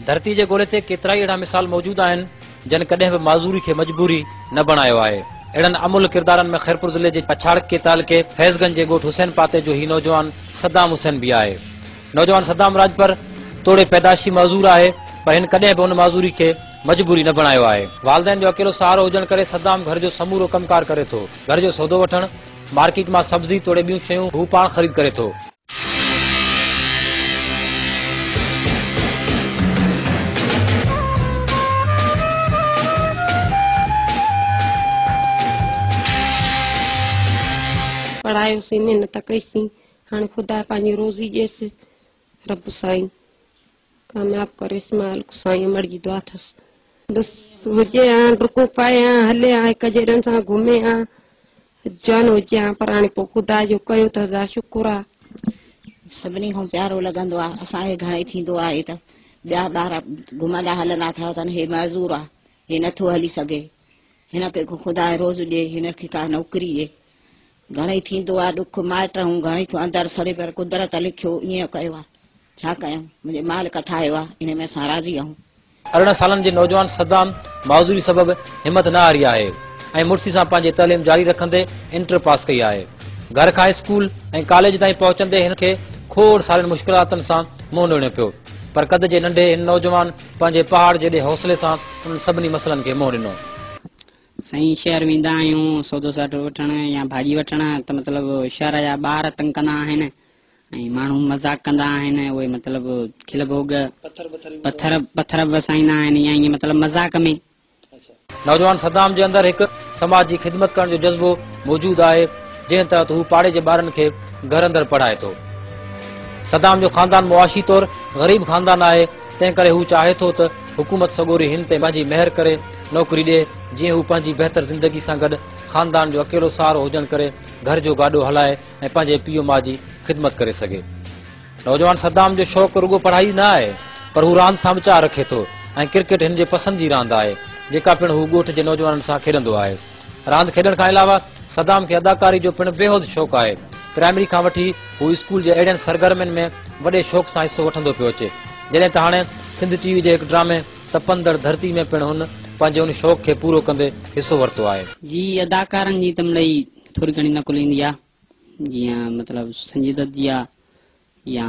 ڌرتي جي گولي تي ڪيترائي اهڙا مثال موجود آهن، جن ڪڏهن به معذوري کي مجبوري نه بڻايو آهي. اهڙن املهه ڪردارن ۾ خيرپور ضلعي جي پڇاڙڪي تعلقي فيض گنج جي ڳوٺ حسين پاتي جو هي نوجوان صدام حسين به آهي. نوجوان صدام راڄپر توڙي پيدائشي معذور آهي، پر هن ڪڏهن به ان معذوري کي مجبوري نه بڻايو آهي. والدين جو اڪيلو سهارو هجڻ ڪري صدام گهر جو سمورو ڪم ڪار ڪري ٿو. گهر جو سودو وٺڻ، مارڪيٽ مان سبزي توڙي ٻيون شيون هو پاڻ خريد ڪري ٿو. پڙهايوسين محنت ڪئي سين هاڻي خدا پنهنجي روزي ڏيس رب سائين ڪامياب ڪر اسماعيل الڪ سائين امڙ جي دعا ٿس بس هجي ها ڊڪون پائي ها هلي ها هڪ جيڏن سان گهمي ها جوان هجي ها پر هاڻي پو خدا جو ڪيو ته هزار شڪر ها. سڀني کان پيارو لڳندو آ اسان کي گهڻئي ٿيندو آهي ته ٻيا ٻار گهمندا هلندا ٿا وتن هي معذور آ هي نٿو هلي سگهي هن کي خدا روز ڏي هن کي ڪا نوڪري ڏي گهڻئي ٿيندو آ ڏک مائٽ هون گهڻئي ٿو اندر سڙي پر قدرت لکيو ائين ڪيو آ ڇا ڪيون منهنجي مالڪ ٺاهيو آ انهي ۾ اسان راضي آهون. ارڙهن سالن جي نوجوان صدام معذوري سبب همٿ نه هاري آهي ۽ مڙسي سان پنهنجي تعليم جاري رکندي انٽر پاس ڪئي آهي. گهر کان اسڪول ۽ ڪاليج تائين پهچندي هن کي کوڙ سارين مشڪلاتن سان منهن ڏيڻو پيو پر قد جي ننڍي هن نوجوان پنهنجي پهاڙ جيڏي حوصلي سان انهن سڀني مسئلن کي منهن ڏنو. سائين شهر ويندا آهيون سودو ساٽو وٺڻ يا ڀاڄي وٺڻ ته مطلب شهر جا ٻار تنگ ڪندا آهن ۽ ماڻهو مذاق ڪندا آهن اهي مطلب کل ڀوڳ پٿر پٿر به وسائيندا آهن يا ائين مطلب مذاق ۾. نوجوان صدام جي اندر هڪ سماج جي خدمت ڪرڻ جو جذبو موجود آهي جنهن تحت هو پاڙي جي ٻارن کي گهر اندر پڙهائي ٿو. صدام جو خاندان معاشي طور غريب خاندان آهي. تنهن ڪري هو چاهي ٿو ته حڪومت سڳوري هن تي پنهنجي مهر ڪري، نوڪري ڏئي، جيئن هو پنهنجي بهتر زندگي سان گڏ خاندان جو اڪيلو سهارو هجڻ ڪري گهر جو گاڏو هلائي ۽ پنهنجي پيء ماء جي خدمت ڪري سگهي. نوجوان صدام جو شوق رڳو پڙهائي ئي نه آهي، پر هو راند سان به چاهه رکي ٿو ۽ ڪرڪيٽ هن جي پسند جي راند آهي، جيڪا پڻ هو ڳوٺ جي نوجوانن سان کيڏندو آهي. راند کيڏڻ کان علاوه صدام کي اداڪاري جو پڻ بيحد شوق آهي. پرائمري کان وٺي هو اسڪول جي اهڙين سرگرمين ۾ وڏي شوق سان حصو وٺندو پيو اچي. جڏهن ته هاڻي سنڌ ٽي وي جي هڪ ڊرامي تپندڙ ڌرتي ۾ پڻ هن پنهنجي ان شوق کي پورو ڪندي حصو ورتو آهي. جي اداڪارن جي ته مڙئي ٿوري گهڻي نقل ايندي آهي. جيئن مطلب سنجي دت جي آهي يا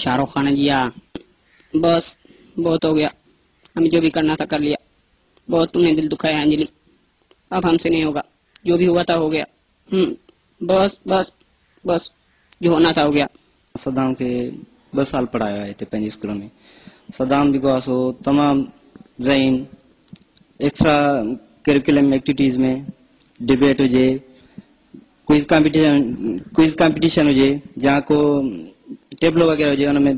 شاهه رخ خان جي آهي. بس بهت هو گيا. ابي جو ڀي ڪرنا ٿا ڪر ليا. بهت تون ني دل دکايا انجلي اب هم سي نهي هوگا جو ڀي هوا ٿا هو گيا هم بس بس بس جو هونا ٿا هو گيا. صدام کي ٻه سال پڙهايو آهي هتي پنهنجي اسڪول ۾ صدام جيڪو آهي سو تمام ذهين ايڪسٽرا ڪريڪولم ايڪٽيوٽيز ۾ ڊبيٽ هجي ڪوئز ڪامپيٽيشن ڪوئز ڪامپيٽيشن هجي يا ڪو ٽيبلو وغيره هجي ان ۾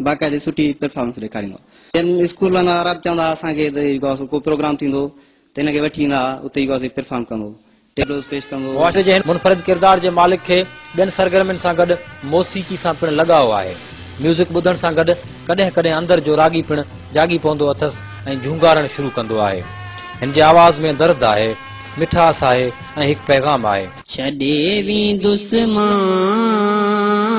باقاعدي سٺي پرفارمنس ڏيکاريندا جن اسڪولن وارا به چوندا اسان کي ته جيڪو اسان ڪو پروگرام ٿيندو ته هن کي وٺي ايندا اتي جيڪو اسان پرفارم ڪندو ٽيبلوز پيش ڪندو. معاشري جي هن منفرد ڪردار جي مالڪ کي ٻين سرگرمين سان گڏ موسيقي سان پڻ لڳاء آهي. ميوزڪ ٻڌڻ سان گڏ ڪڏهن ڪڏهن اندر جو راڳي پڻ جاڳي پوندو اٿس ۽ جهونگارڻ شروع ڪندو آهي. هن جي آواز ۾ درد آهي، مٺاس آهي ۽ هڪ پيغام آهي. ڇڏي ويندس مان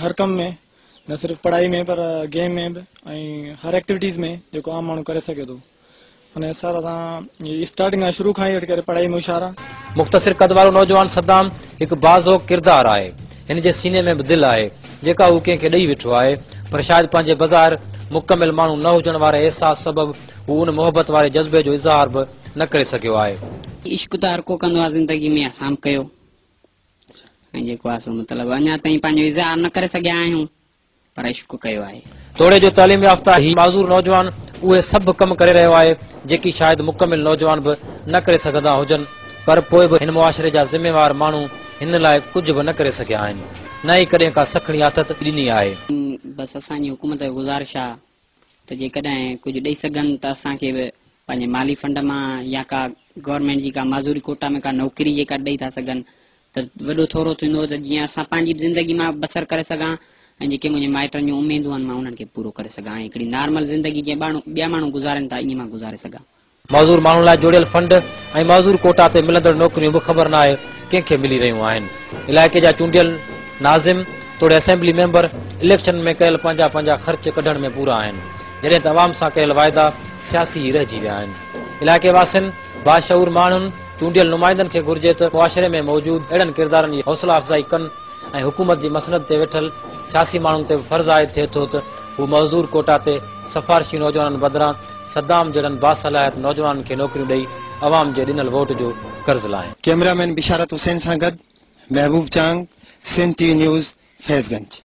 هر ڪم ۾ نه صرف پڙهائي ۾ پر گيم ۾ به ۽ هر ايڪٽيوٽيز ۾ جيڪو عام ماڻهو ڪري سگهي ٿو ان حساب سان اسٽارٽنگ کان شروع کان ئي وٺي ڪري پڙهائي ۾ هوشيار آ مختصر قد وارو نوجوان صدام هڪ باذوق ڪردار آهي. هن جي سيني ۾ به دل آهي، جيڪا هو ڪنهن کي ڏئي ويٺو آهي، پر شايد پنهنجي بظاهر مڪمل ماڻهو نه هجڻ واري احساس سبب هو ان محبت واري جذبي جو اظهار به نه ڪري سگهيو آهي. عشق ته هر ڪو ڪندو آ زندگي ۾ اسان به ڪيو. ۽ جيڪو آهي سو مطلب اڃا تائين پنهنجو اظهار نه ڪري سگهيا آهيون پر عشق ڪيو آهي. توڙي جو تعليم يافته هي معذور نوجوان اهي سڀ ڪم ڪري رهيو آهي جيڪي شايد مڪمل نوجوان به نه ڪري سگهندا هجن پر پوء به هن معاشري جا ذميوار ماڻهو هن لاء ڪجهه به نه ڪري سگهيا آهن نه ئي ڪڏهن ڪا سکڻي آٿت ڏني آهي. بس اسان جي حڪومت کي گذارش آهي ته جيڪڏهن ڪجهه ڏئي سگهن ته اسان کي به پنهنجي مالي فنڊ مان يا ڪا گورنمينٽ جي ڪا معذوري ڪوٽا ۾ ڪا نوڪري جيڪا ڏئي ٿا سگهن ته وڏو ٿورو ٿيندو ته جيئن اسان پنهنجي به زندگي مان بسر ڪري سگهان ۽ جيڪي منهنجي مائٽن جون اميدون آهن مان انهن کي پورو ڪري سگهان ۽ هڪڙي نارمل زندگي جيئن ٻيا ماڻهو گذارين ٿا ائين مان گذاري سگهان. معذور ماڻهن لاء جوڙيل فنڊ ۽ معذور ڪوٽا تي ملندڙ نوڪريون به خبر ناهي ڪنهن کي ملي رهيون آهن. علائقي جا چونڊيل ناظم توڙي اسيمبلي ميمبر اليڪشن ۾ ڪيل پنهنجا پنهنجا خرچ ڪڍڻ ۾ پورا آهن، جڏهن ته عوام سان ڪيل واعدا سياسي ئي رهجي ويا آهن. علائقي واسين، باشعور ماڻهن، چونڊيل نمائندن کي گهرجي ته معاشري ۾ موجود اهڙن ڪردارن جي حوصلا افزائي ڪن ۽ حڪومت جي مسند تي ويٺل سياسي ماڻهن تي به فرض عائد ٿئي ٿو ته هو معذور ڪوٽا تي سفارشي نوجوانن بدران صدام جهڙن باصلاحيت نوجوانن کي نوڪريون ڏئي عوام جي ڏنل ووٽ جو قرض لاهين. ڪيمرا مين بشارت حسين سان گڏ محبوب چانگ، سنڌ ٽي وي نيوز، فيض گنج.